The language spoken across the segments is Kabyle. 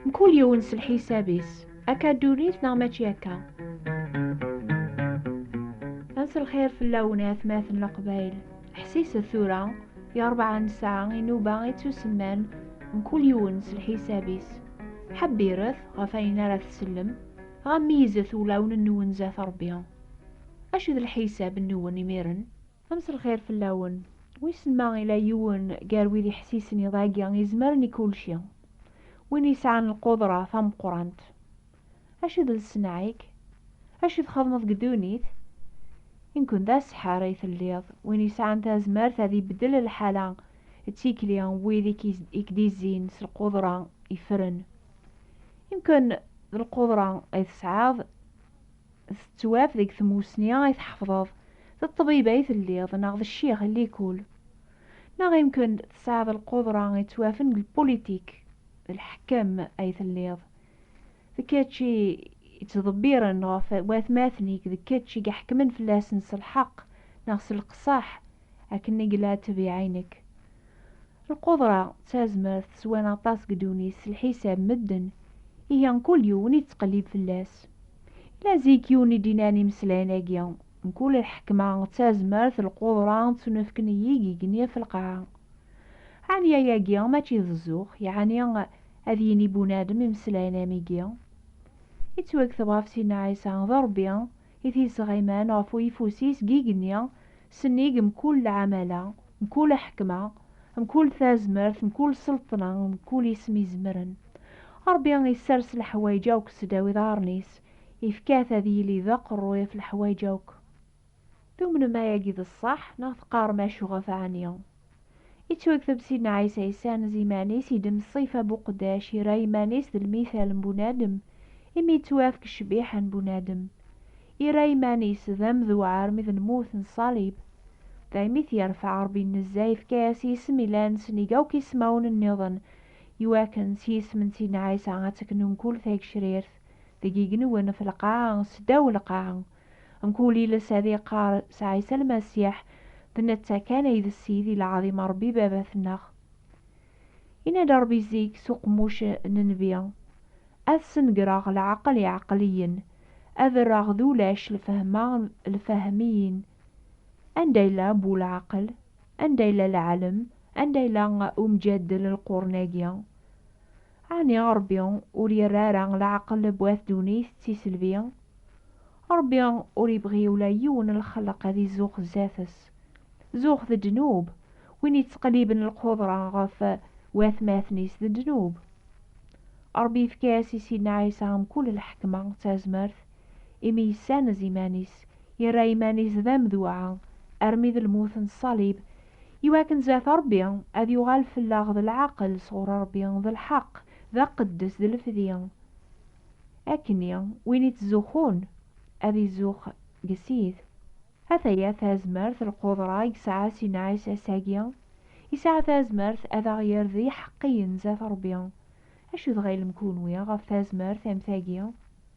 Mkul yiwen s lḥisab-is, akka ddunit neɣ mačči akka? Ad lxir fell-awen i atmaten n Leqbayel. Ḥsiset tura, i rebɛa nesɛa inuba ittusemman mkul yiwen s lḥisab-is. Ḥebbiret ɣef ayen ara tsellem, ɣa meyyzet ulawen-nwen zdat Rebbi. Acu d lḥisab-nwen imiren? Amselxir fell-awen. Wissen ma ila yiwen gar wid iḥessisen iḍ-agi izemren i kulci, win yesɛan lqudra tameqqrant? Acu d lsenɛa-ik? Acu txedmeḍ deg ddunit? Imkun d aseḥḥer ay telliḍ, win yesɛan tazmert ad ibeddel lḥala d tikli n wid i k-d-izzin s lqudra ifren. Imkun d lqudra ay tesɛiḍ Tettwaf deg tmusni ay tḥefḍeḍ, d ṭṭbib ay telliḍ neɣ d ccix n likul, neɣ yemken tesɛiḍ lqudra yettwafen d lpulitik, d lḥekem ay telliḍ, d kečč i yettḍebbiren ɣef watmaten-ik, d kečč i iḥekmen fell-asen s lḥeqq neɣ s leqṣeḥ, akken i yella ttbiɛa i nekk. Lqudra d tazmert swan aṭas deg ddunit s lḥisab medden, ihi mkul yiwen yettqellib fell-as. Yella zik yiwen i d-inan imeslayen-agi, Mkul lḥekma d tazmert, lqudra ttunefken i yigigen ɣef lqaɛa. Ɛni ayagi mačči d zzux? Yeɛni ad yini bunadem imeslayen am igi? Yettwakteb ɣef Sidna Ɛisa, d Rebbi I t-yesɣiman ɣef uyeffus-is deg igenni, sennig mkul lɛamala, mkul aḥekma, mkul tazmert, mkul selṭna, mkul isem izemren. Ṛebbi isers leḥwayeǧ akk sdaw iḍaṛṛen-is, ifka-t ad yili d aqeṛṛuy ɣef leḥwayeǧ akk. Tumnem ayagi d ṣṣeḥ, neɣ teqqaṛem acu ɣef ɛni? Yettwakteb Sidna Ɛisa yesɛan zi iman-is, idem ṣṣifa n uqeddac, yerra iman-is d lmithal n bunadem, imi yettwafk ccbiḥa n bunadem. Yerra iman-is d amdewɛer mi d lmut n ṣṣalib. Daymi i t-yerfeɛ Ṛebbi Nnezza, yefka-yas isem ilan sennig akk ismawen nniḍen, iwakken s yisem n Sidna Ɛisa ad teknu mkul tagcrirt deg igenwen ɣef lqaɛa, seddaw lqaɛa. Mkul iles ad iqqar s Ɛisa Lmasiḥ, D netta kan ay d Ssid Ilɛaḍim Ṛebbi Baba-tneɣ. Yenna-d Ṛebbi zik s uqemmuc n nnbi, Ad snegreɣ leɛqel iɛeqliyen, ad rreɣ d ulac lfehma lfehmiyin. Anda yella bu leɛqel? Anda yella lɛelm? Anda yella umjaddel lqurn-agi? Ɛni Ṛebbi ur yerri ara leɛqel n wat ddunit d tiselbi? Ṛebbi ur yebɣi ula yiwen n lxelq ad izuxx zdat-s. Zuxx d ddnub, win yettqelliben lqudṛa ɣef watmaten-is d ddnub. Ṛebbi yefka-as i Sidna Ɛisa mkul lḥekma d tazmert imi yessanez iman-is, yerra iman-is d amduɛa armi d lmut n ṣṣalib, iwakken zdat Ṛebbi ad yuɣal fell-aɣ d lɛaqel sɣur Ṛebbi, d lḥeqq, d aqeddes, d lefdi. Akkenni, win ittzuxxun, ad izuxx deg Ssid. Ataya tazmert, lqudṛa, i yesɛa Sina Ɛisa ass-agi. Yesɛa tazmert ad aɣ-yerr d iḥeqqiyen zdat Ṛebbi. Acu tɣilem kunwi ɣef tazmert am tagi?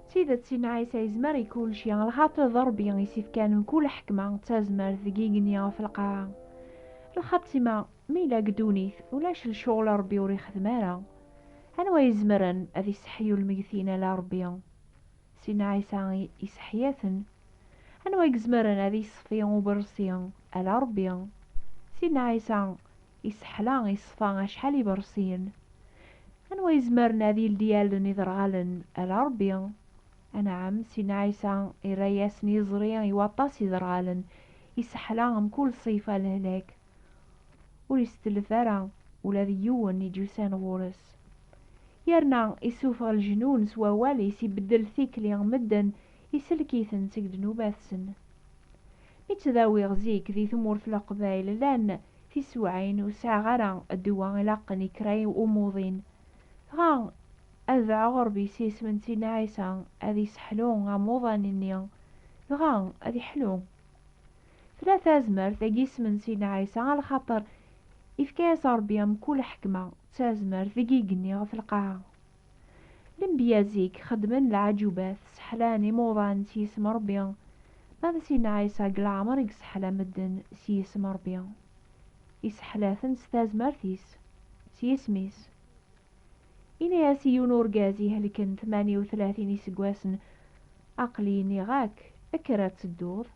D tidet, i Ɛisa yezmer i kulci, lxaṭi d Ṛebbi i s-ifkan mkul ḥekma d tazmert deg igenni ɣef lqaɛa. Lxatima, mi yella deg ddunit, ulac lecɣal Ṛebbi ur ixeddem ara. Anwa i izemren ad iseḥyu lmeggtin ala Ṛebbi. Sin Ɛisa iseḥya-ten. Anwa i izemren ad iṣfi uberṣi ala Ṛebbi. Sin Ɛisa iseḥla iṣfa acḥal iberṣiyen. Anwa izemren ad yeldi allen iderɣalen ala Rebbi. Anɛam, Sidna Ɛisa irra-yasen iẓri i waṭas iderɣalen, iseḥla mkul ṣṣifa n lehlak. Ur isetlef ara ula d yiwen i d-yusan ɣur-s. Yerna issufeɣ leǧnun s wawal-is, ibeddel tikli n medden, isellek-iten seg ddnubat-sen. Mi ttdawiɣ zik di tmurt n Leqbayel llan Tisewɛin ur sɛiɣ ara ddwa ilaqen i kra n umuḍin, dɣa ad baɛeɣ Ṛebbi s yisem n Sidna Ɛisa ad yesseḥlu amuḍan-nni, dɣa ad yeḥlu. Tella tazmert deg yisem n Sidna Ɛisa ɣer lxaṭer ifka-yas Ṛebbi mkul ḥekma d tazmert deg yigenni ɣef lqaɛa. Lenbiya zik xeddmen leɛǧubat, sseḥlan imuḍan s yisem n Ṛebbi. Ma d Sidna Ɛisa deg leɛmer i yesseḥla medden s yisem n Ṛebbi. Iseḥla-ten s tazmert-is, s yisem-is. Yenna-as i yiwen urgaz ihelken tmanya u tlatin iseggasen, Aql-i nniɣ-ak, kker ad tedduḍ.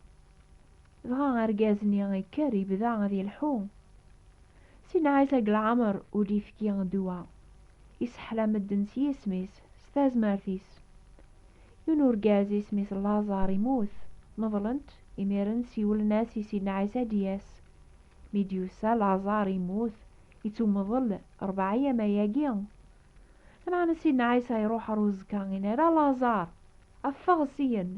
Dɣa argaz-nni ikker, yebda ad yelḥu. Sinɛet ag leɛmer ur d-ifki ddwa, iseḥla medden s yisem-is, s tazmert-is. Yiwen urgaz isem-is Laẓar immut, meḍlen-t, imiren siwlen-as i Sidna Ɛisa ad d-yas. Mi d-yusa Laẓar immut, ittumeḍl, rebɛa yama-agi. Lameɛna Sidna Ɛisa iruḥ ɣer uẓekka, inna, Ara Laẓar! Ffeɣ syen!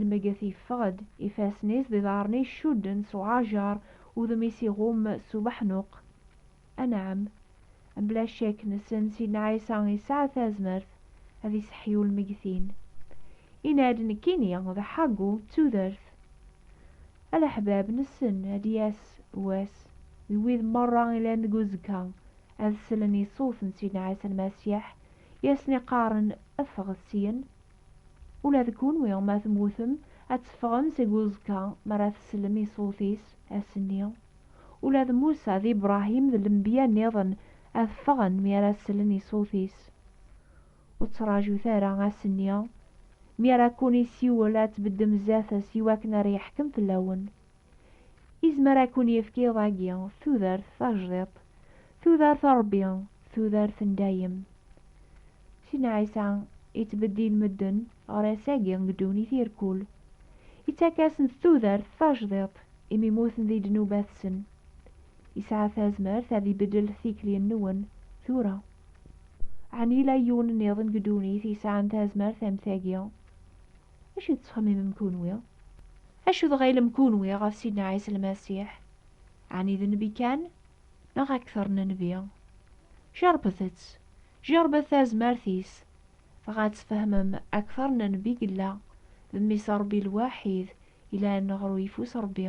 Lmeget yeffeɣ-d, ifassen-is d iḍarren-is cudden s uɛajer, udem-is iɣumm s ubeḥnuq. Anɛam, mebla ccek nessen Sidna Ɛisa yesɛa tazmert ad iseḥḥi ulmegtin. Yenna-d, Nekkini d Ḥagu d tudert. A leḥbab, nessen ad d-yas wass i wid merra ilan deg uzekka ad sellen i ṣṣut n Sidna Ɛisa Lmasiḥ i asen-iqqaren, Ffɣet syen! Ula d kunwi ma temmutem, ad teffɣem seg uẓekka mi ara teslem i ṣṣut-is, ass-nni. Ula d Musa d Ibrahim d lenbiya nniḍen ad ffɣen mi ara slen i ṣṣut-is. Ur ttraǧut ara ass-nni mi ara kkun-issiwel ad tbeddem zdat-s iwakken ara yeḥkem fell-awen. Izmer ad kun-yefk iḍ-agi tudert tajdiṭ, tudert n Ṛebbi, tudert n dayem. Sidna Ɛisa yettbeddil medden ɣer ass-agi deg ddunit irkul. Ittak-asen-d tudert tajdiṭ imi muten di ddnubat-sen. Yesɛa tazmert ad ibeddel tikli-nwen tura. Ɛni yella yiwen nniḍen deg ddunit yesɛan tazmert am tagi? D acu i tettxemimem kunwi? Acu dɣa i lem kunwi ɣef Sidna Ɛisa Lmasiḥ? Ɛni d nnbi kan, neɣ akteṛ n nnbi? Jeṛṛbet-tt, jeṛṛbet tazmert-is, dɣa ad tfehmem akteṛ n nnbi yella d Mmi-s n Ṛebbi lwaḥid yellan ɣer uyeffus n Ṛebbi.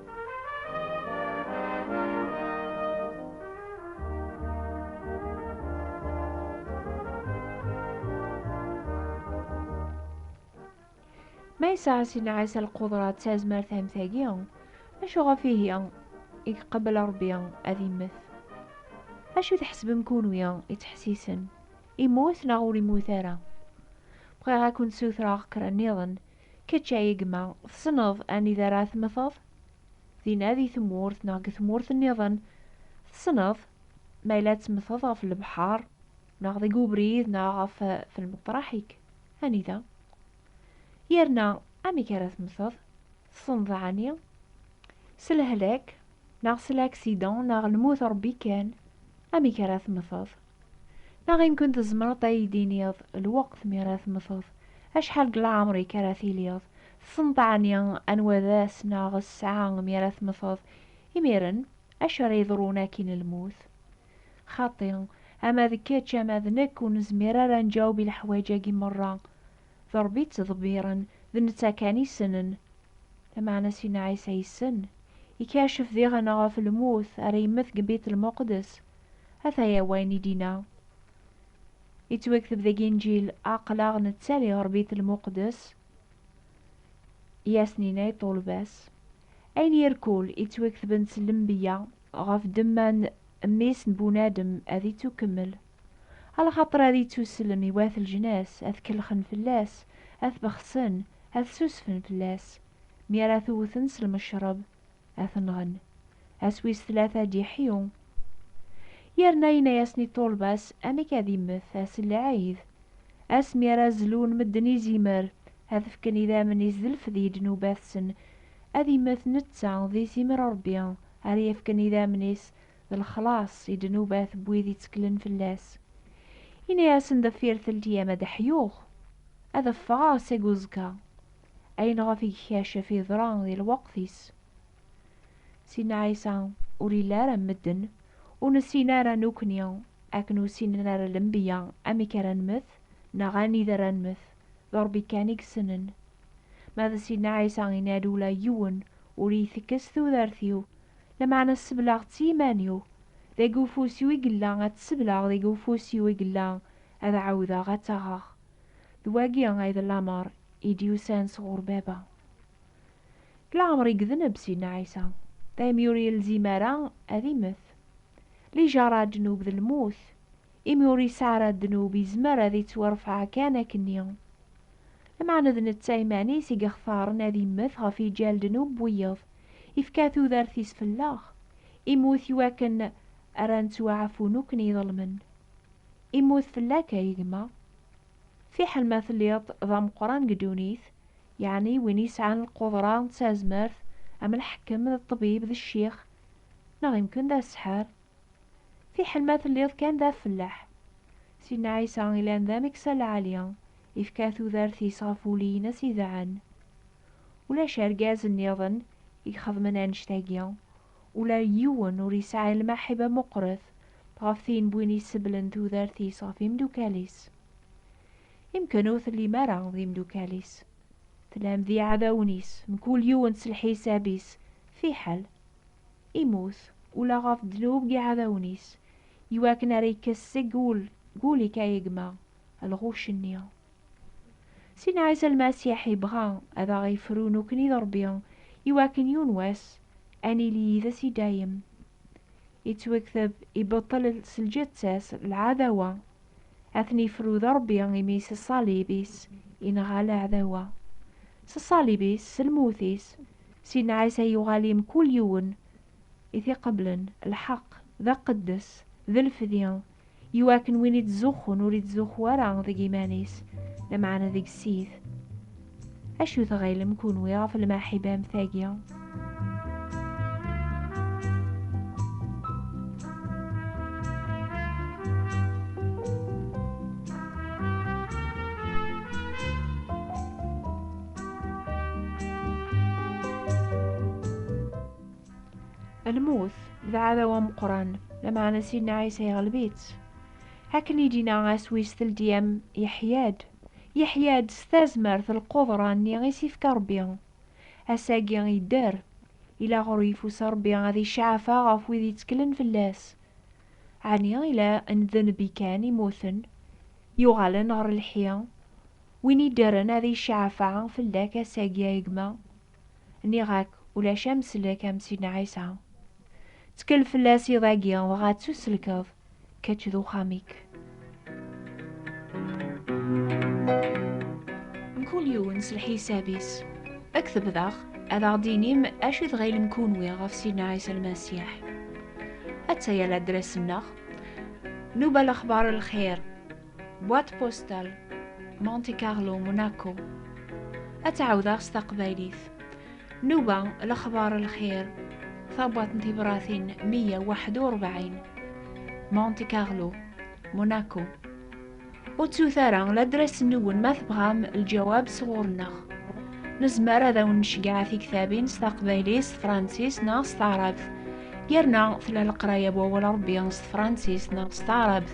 Ma yesɛa si nɛas lqudra d tazmert am tagi, acu ɣef ihi i iqebbel Ṛebbi ad immet? Acu tḥesbem kunwi ittḥessisen, immut neɣ ur immut ara? Bɣiɣ a kent-sutreɣ kra nniḍen Kečč a gma tessneḍ anida ara temmteḍ? Dinna di tmurt neɣ deg tmurt nniḍen? Tessneḍ ma yella ad temmteḍ ɣef lebḥer neɣ deg ubrid neɣ ɣef lmeṭraḥ-ik? Anida? Yerna amek ara temmteḍ? Tessneḍ ɛni? S lehlak neɣ s laksidan neɣ lmut Ṛebbi kan? Amek ara temmteḍ? Neɣ imkun tzemreḍ ad iyi-d-tiniḍ lweqt mi ara temmteḍ, acḥal deg leɛmer-ik ara tiliḍ, tessneḍ ɛni anwa d ass neɣ ssaɛa mi ara temmteḍ, imiren, acu ara yeḍrun akkin lmut? Xaṭi, ama d kečč ama d nekk ur nezmir ara ad nǧaweb i leḥwaǧ-agi merra. D Ṛebbi i ttḍebbiṛen, d netta kan i ssnen. Lameɛna Sina Ɛisa yessen, ikacef diɣen ɣef lmut, ara yemmet deg Bitelmuqdes. Ataya wayen i d-inna. Yettwakteb deg Inǧil, Aql-aɣ nettali ɣer Bitelmuqdes, i as-ninna i ṭṭulba-s. Ayen irkul, yettwakteb-n s lembiya. ɣef ddemma n Mmi-s n bunadem ad ittukkemmel, a lxaṭer ad ittuslem i wat leǧnas ad kellxen fell-as, ad t-bexsen, ad ssusfen fell-as, mi ara t-wwten s lmecṛeb, ad t-nɣen. Ass wis tlata d-iḥyu. Yerna yenna-yasen i ṭṭulba-s amek ad immet ass n lɛid, ass mi ara zlun medden izimer, ad fken idammen-is d lfed i ddnubat-sen, Ad immet netta di timer n Ṛebbi, ara yefken idammen-is d lexlaṣ i ddnubat n wid itteklen fell-as. Inna-yasen deffir teltiyam ad ḥyuɣ, ad ffɣeɣ seg uẓekka, ayen ɣef i gkacef yeḍra di lweqt-is. Sidna Ɛisa ur yelli ara am medden, ur nessin ara nukni akken ur ssinen ara lenbiya amek ara nmet neɣ anida ara nmet. d Ṛebbi kan i yessnen. Ma d Sidna Ɛisa yenna-d ula yiwen ur iyi-tekkes tudert-iw, lameɛna sebleɣ-tt i yiman-iw, deg ufus-iw i yella ad tt-sebleɣ deg ufus-iw i yella ad ɛawdeɣ ad tt-aɣeɣ. D wagi ay d lameṛ i d-yusan sɣur Baba. Deg leɛmeṛ i yedneb Sidna Ɛisa, daymi ur yelzim ara ad immet. Lijaṛa, ddnub d lmut, Imi ur yesɛi ara ddnub, yezmer ad ittwarfeɛ kan akkenni. Lameɛna d netta iman-is i yextaren ad immet ɣef yiǧal ddnub n wiyeḍ, ifka tudert-is fell-aɣ, immut iwakken ara nettwaɛfu nukken iḍelmen. Immut fell-ak a yegma. Fiḥel ma telliḍ d ameqqran deg ddunit, yeɛni win yesɛan lqudra d tazmert am lḥekkem d ṭṭbib d ccix, neɣ imken d aseḥḥar, Fiḥel ma telliḍ kan d afellaḥ. Sidna Ɛisa ilan d ameksa lɛali, ifka tudert-is ɣef wulli-ines idɛan. Ulac argaz nniḍen i ixedmen annect-agi. Ula d yiwen ur yesɛi lmaḥiba muqret ɣef tin n win isebblen tudert-is ɣef imdukal-is. Imken ur tellim ara d imdukal-is. Tellam d iɛdawen-is, mkul yiwen s lḥisab-is, fiḥel. immut, ula ɣef ddnub n yiɛdawen-is, iwakken ara ikkes seg ul deg ul-ik a gma, lɣuc-nni. Sidna Ɛisa Lmasiḥ ibɣa ad aɣ-ifru nukni d Ṛebbi iwakken yiwen wass a nili yid-s i dayem. Ittwekteb, Ibeṭṭel s lǧetta-s lɛadawa A ten-ifrud Ṛebbi imi s ṣṣalib-is i nɣa leɛdawa. S ṣṣalib-is, s lmut-is, s inɛa-s ay yuɣal i mkul yiwen i t-iqeblen, lḥeq, d aqeddes, d lfdi, i wakken win ittzuxxun ur ittzuxxu ara deg iman-is, lameɛna deg ssid. Acu tɣilem kunwi ɣef lmaḥiba am tagi? Lmut d aɛdaw ameqqran, lameɛna Sidna Ɛisa yeɣleb-itt. Akken i d-yenna aswis teldi-am yeḥya-d. yeḥya-d s tazmert lquḍra-nni i s-ifka Rebbi. Ass-agi yedder, yella ɣer uyeffus Rebbi ad icaɛfeɣ ɣef wid yetteklen fell-as. Ɛni yella n d nnbi kan immuten, yuɣalen ɣer lḥi, win iddren ad icaɛfeɛ fell-ak ass-agi ay gma? Nniɣ-ak ulac amsellek am Sidna Ɛisa. Ttekkel fell-as iḍ-agi dɣa ttuselkeḍ. kečč d uxxam-ik. Mkul yiwen s lḥisab-is. Ad k-tebdaɣ, ad aɣ-d-tinim acu i tɣilem kunwi ɣef Sidna Ɛisa Lmasiḥ. Atta-ya ladres-nneɣ, Nuba Lexbar Lxir. Boîte postale Monte Carlo Monaco ad tɛawdeɣ s taqbaylit nuba lexbar lxir tabwaṭ n tibratin 141 Monte Carlo Monaco ur ttut ara ladras-nwen ma tebɣam lǧawab sɣur-nneɣ nezmer ad awen-nceggeɛ tiktabin s taqbaylit s tefransist neɣ s taɛrabt yerna tella leqraya n wawal Ṛebbi s tefransist neɣ s taɛrabt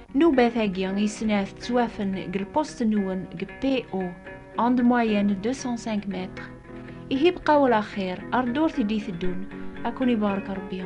Nnubat-agi i snat ttwafen deg lpust-nwen deg PO, onde moyenne 205 mètres. Ihi bqaw ala xir, ar ddurt i d-iteddun, ad ken-ibarek Rebbi.